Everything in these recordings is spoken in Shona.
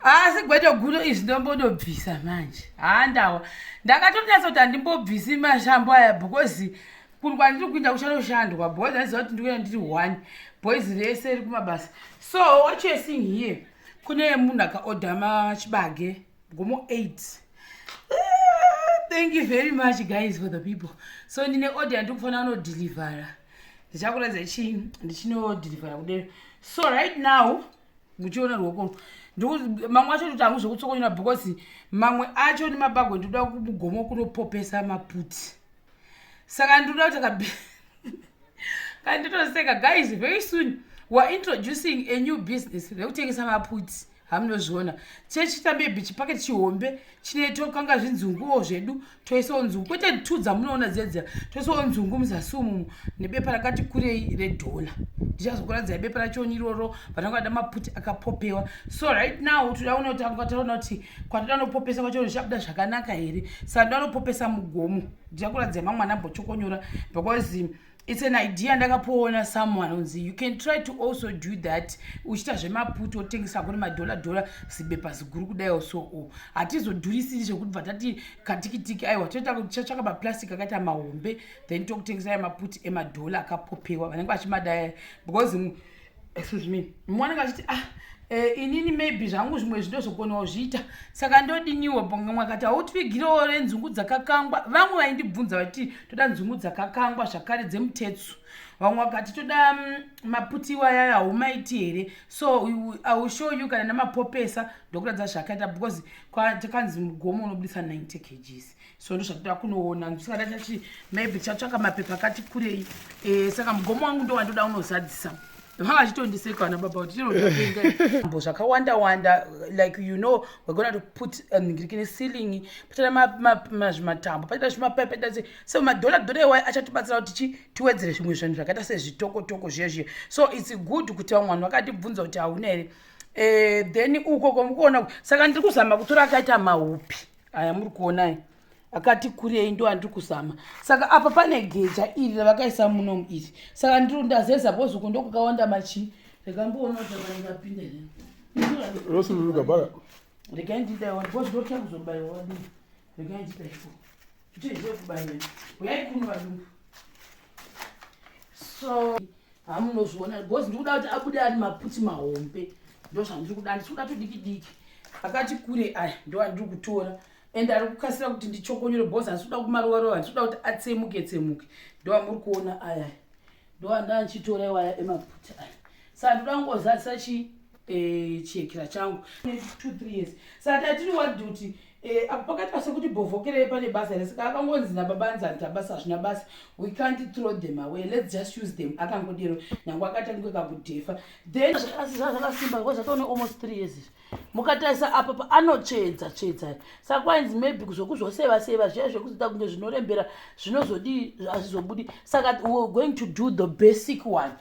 asi gwete guru izvi ndombodobvisa manje haa ndawa ndakatonasa kuti handimbobvisi mashambo aya because kuri kwandiri kuinda kuchanoshandwa boys aiziva kuti ndikuenda ndiri one boys rese ri kumabasa so what youare seeing here kune munhu akaorder machibage gomo eight thank you very much guys for the people so ndine order yandiri kufanira kunodhilivhara ndichakuratidza chii ndichinodhilivhara kudero so right now muchiona ruoko mamwe acho kuti hangu zvekutsokonyora because mamwe acho nemabagwe ndikuda mugomo kunopopesa maputi saka ndikuda kuti kabi kana nditoseka guys very soon weare introducing a new business rekutengesa maputi hamunozviona chechi tambe bichi paketi chihombe chine tokanga zvinzunguwo zvedu toisawo nzungu kwete two dzamunoona dziya dziya toisawo nzungu muzasi umu nebepa rakati kurei redhola ndichazokuradzai bepa rachoni iroro vananga vada maputi akapopewa so right now toda kuona kuti anga taona kuti kwatoda nopopesa kwacho zvichabuda zvakanaka here saka ndoda nopopesa mugomo ndichakuradzai mamwana ambotokonyora because its an idea ndakapoona someone onzi you can try to also do that uchiita zvemaputi otengesa kuri madhola dhola zibepa ziguru kudaiwo so o hatizodhurisiri zvekuti bva tati katikitiki aiwa totachatsvaka maplastic akaita mahombe then tokutengesa aya maputi emadhola akapopewa vanenge vachimadaya because excuse me mwana kachiti ah eh, inini maybe zvangu zvimwe zvindozokonawo zviita saka ndodiniwo bonga mwakati hautipfigirewo renzungu dzakakangwa vamwe vaindibvunza vati toda nzungu dzakakangwa zvakare dzemutetsu vamwe vakati toda mm, maputiwa yaya haumaiti here so iwill show you kana namapopesa ndokuratidza zvakaita because takanzi mugomo unobudisa 90 kgs so ndozvatoda kunoona ndisikada chati maybe chatsvaka mapepa akati kurei eh, saka mugomo wangu ndowandoda unozadzisa vanga vachitondiseka vana baba kuti tinoambo zvakawanda wanda like you know we're gonna to put um, ngirikine ceiling patira mazvimatambo patira zvimapai patira se so madhola dhola iwayo achatibatsira kuti chi tiwedzere zvimwe zvinhu zvakaita sezvitokotoko zviya zviya so it's good kuti vamwe vanhu vakatibvunza kuti hauna here eh, then uko komukuona saka ndiri kuzama kutora akaita maupi aya muri kuonai akati kurei ndo andiri kuzama saka apa pane geja iri ravakaisa munomu iri saka ndiri ndazeza bozuku ndokukawanda machii rekamboona kuti akanenge apinda rosururuka regai ndidaiwa because ndotya kuzobaiwa wadii regai ndidaiwa kutoizve kubaiwa uyai kuno vadumbu so hamunozviona because ndikuda kuti abude ari maputi mahombe ndo zvandiri kuda ndisikuda tudiki diki akati kure aya ndo andiri kutora and ari kukasira kuti ndichokonyore because andisikuda kumarova rova ndisikuda kuti atsemuke tsemuke ndo amuri kuona aya ndo anda ndichitora iwaya emaputi aya sa ndikuda kungozadzisa chii eh, chihekira changu 23 years saka tiri wadi kuti eh, apo pakati pasekuti bhovhokerei pane basa here saka akangonzi nababa anzani tabasa hazvina basa we can't throw them away let's just use them akangodero nangu akatangwe kakudhefa then zvakasimba ko zvatoone almost three years izvi mukatarisa apa paanotsvedza tsvedza saka kwainzi maybe zvokuzvoseva seva zviya zvekuzoita kunge zvinorembera zvinozodii hazvizobudi saka we're going to do the basic one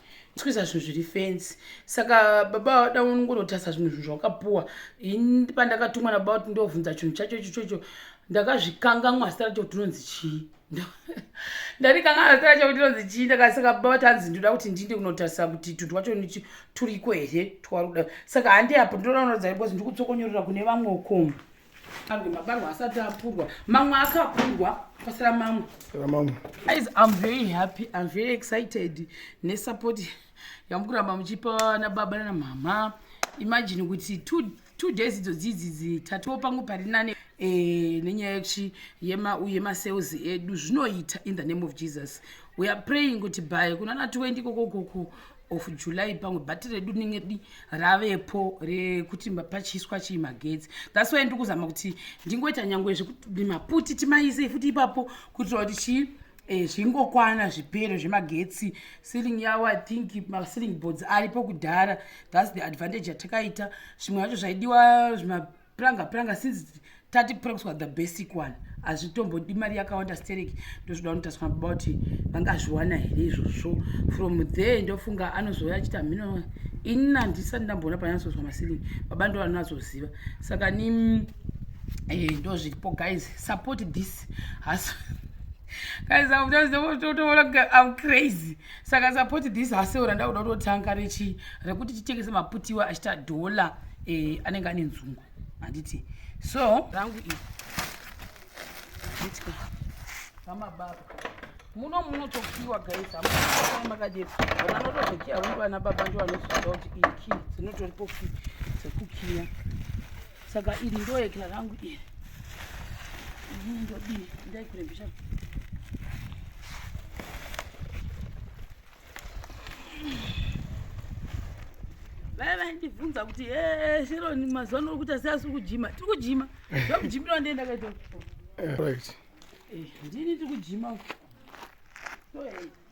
kuisa zvinhu zviri fensi saka baba vada unongonotarisa zvimwe zvinhu zvawakapuwa ini pandakatumwa nababa kuti ndovhunza chinhu chacho icho chocho ndakazvikanganwa zita racho kuti inonzi chii ndarikanganwa zita racho kuti inonzi chii ndakasaka baba vati hanzi ndoda kuti ndiinde kunotarisa kuti tunhu twacho nichi turiko here twaruda saka handi apo ndinoda kunoratidza because ndiri kutsokonyorera kune vamwe ukomu pamwe mabarwa asati apurwa mamwe akapurwa pasira mamwe guys i'm very happy i'm very excited nesupport yamukuramba muchipa vana baba nana mama imagine kuti two, two days idzo dziidzidzi tatiwo pangu pari nane e, nenyaya yekuti yemasales edu zvinoita in the name of jesus we are praying kuti by kunana 20 kokokoko of july pamwe bhati redu rinenge di ravepo rekuti pachiswa chii magetsi thats wy ndikuzama kuti ndingoita nyangwe zvekuti maputi timaise futi ipapo kuitira kuti chii eh, zvingokwana zvipero zvemagetsi sealing yawo i think masealing boards aripo kudhara thats the advantage yatakaita zvimwe zvacho zvaidiwa zvima pranga pranga since tati prangswa the basic one hazvitombodi mari yakawanda stereki ndozvoda kunotaswa baba kuti vangazviwana here izvozvo from there ndofunga anozouya achita mhino ini nandisati ndamboona panyasozwa masilingi baba ndo vanonazoziva saka ni eh, ndozviripo guys support this haso guys i'm just i'm crazy saka support this haseo randakuda kutotanga rechii rekuti titengese maputiwa achita dhola eh, anenge ane nzungu handiti so rangu iri nditya vamababa muno munotokiwa guys hamakadii vana anotozokiya vano vana baba ndo vanozoda kuti iki dzinotoripo ki dzekukiya Saka iri ndoekla rangu iri. Ini ndodii ndaikurembesha. Vaya vandibvunza kuti he Sharon mazuva ano urikuita seasi kujima. Tiri kujima. Ndokujimira wandee ndakaita. Right. Eh, ndini tiri kujima. Toenda.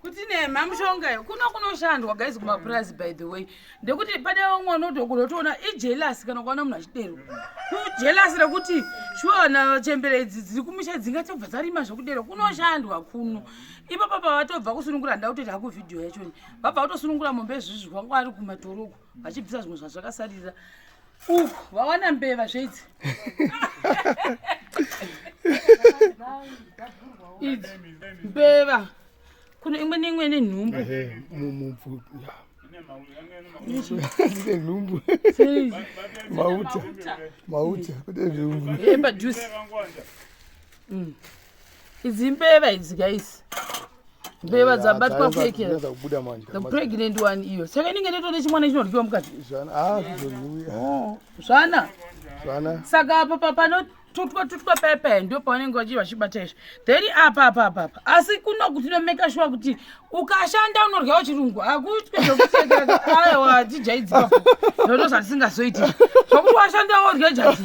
kuti nema mushonga yo kuno kunoshandwa guys kumapurazi by the way ndekuti pane vamwe vanotokunotoona ijelasi kana kuona munhu achidero kujelasi rekuti shuwana chembere idzi dziri kumusha dzingatobva dzarima zvekudero kunoshandwa kuno ipapa pavatobva kusunungura ndautoita haku vhidhiyo yachoni vabva vatosunungura mombe izvizvi vanga vari kumatoro uko vachibvisa zvimwe zvazvakasarira uku vawana mbeva zveidzi idzi mbeva kune imwe neimwe ine nhumbu ine nhumbu mauta mauta kune nhumbu epadhusi Idzi mbeva idzi guys. Mbeva dzabatwa kweke. The pregnant one iyo. Saka inenge netoda chimwana chinoryiwa mukati. Zvana. Ah, zvozviuya. Oh, zvana. Zvana. Saka apa papa not tutwa tutwa pepe ndio pavanenge vachi vachibata izvi then apa apa apa apa asi kuno kuti nomeka shuwa kuti ukashanda unoryawo chirungu hakutwe zvekusekera ayo hatijaidzipa zvoto zvatisingazoiti zvokuti washanda worya jati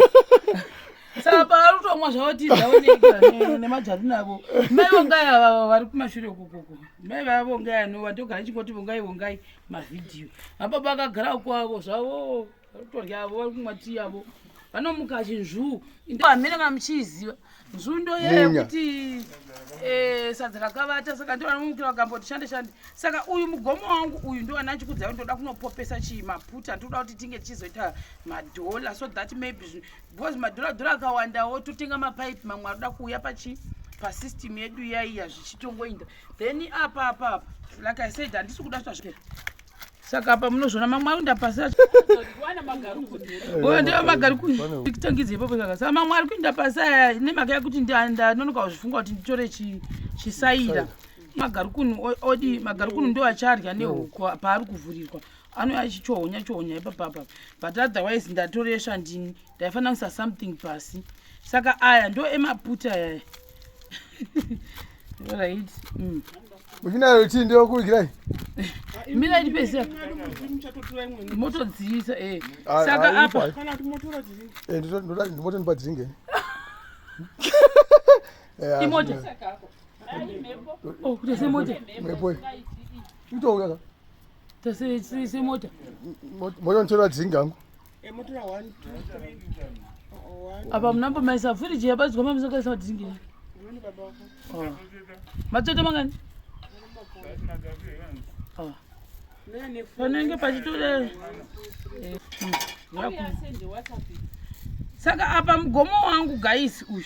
saka pavari kutomwa zvavo tii zvavo nei nemajari navo mai vongai avava vari kumashure ukukuku mai vava vongai anova ndogara ndichingoti vongai vongai mavhidhiyo mababa akagara kwavo zvavo vari kutorya avo vari kumwa tii yavo vanomuka achinzvuu hamene kana muchiiziva nzvuu ndoyeye kuti eh, sadza rakavata saka ndo vanomukira vakamboti shande shande saka uyu mugomo wangu uyu ndo vana chikudza ndoda kunopopesa chii maputa ndoda kuti tinge tichizoita madhola so that maybe because madhuradhura akawandawo totenga mapipe mamwe aroda kuuya pachi pasystem yedu yaiya zvichitongoinda then apa apa apa like i said handisi kuda zvazvike saka apa munozvona mamwe ayo ndapasira oyo ndeva magari kutangidza ipapo saka saka mamwe ari kuinda pasi aya nemhaka yekuti ndanonoka kuzvifunga kuti nditore chisaira magarukunu odi magarukunu ndo acharya nehuku paari kuvhurirwa anouya achichohonya chohonya ipapapa but otherwise ndatoresva ndini ndaifanira kuisa something pasi saka aya ndo emaputa aya right mm. muchinayo chii ndiyo kuigirai mira iri pese motodziisa e saka apa eh, ndimoto ndipa dringe eh, imota oh, kutese mota mhepo itouya semota mota ntora dzingangu eh, apa munambo maisa firiji yabadzwa mamusakaisa madzingira ah. matoto mangani ah. panenge pachitore eh, hmm, saka apa mugomo wangu gaisi uyu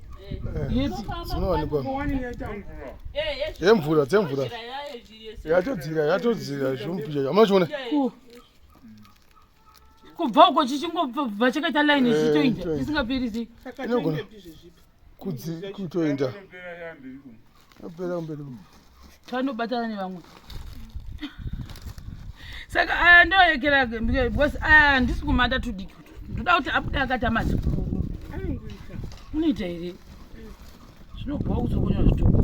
dzinowanikwa yemvura dzemvura yatodzira yatodzira zvomupicha amuna chiona kubva uko chichingobva chakaita line eh, chichitoinda chisingaperi sei kutoinda apera kumberi tanobatana nevamwe saka aya ndoyekera because aya handisi kumata tudiki ndoda kuti abude akati amazikuru unoita here zvinobhowa kuzokunywa zvitoko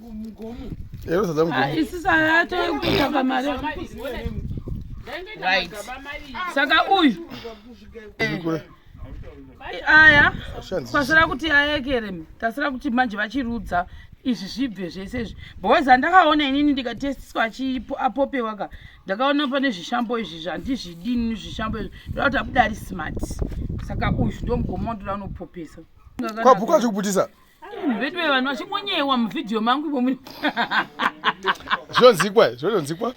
saka uyu aya kwasira kuti ayekere tasira kuti manje vachirudza izvi zvibve zvese izvi boys andakaona inini ndikatestiswa apopewa ka ndakaona pane zvishambo izvi zvandizvidini zvishambo izvi ndoda kuti abuda ari smart saka uyu ndomugomo wandoda unopopesa kwabhuka zvikuputisa veduwe vanhu vachingonyewa muvhidhiyo mangu imomu zvonzikwa zvononzikwa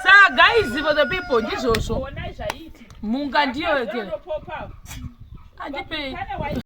sa guys for the people ndizvozvo munga ndiyo ke andipei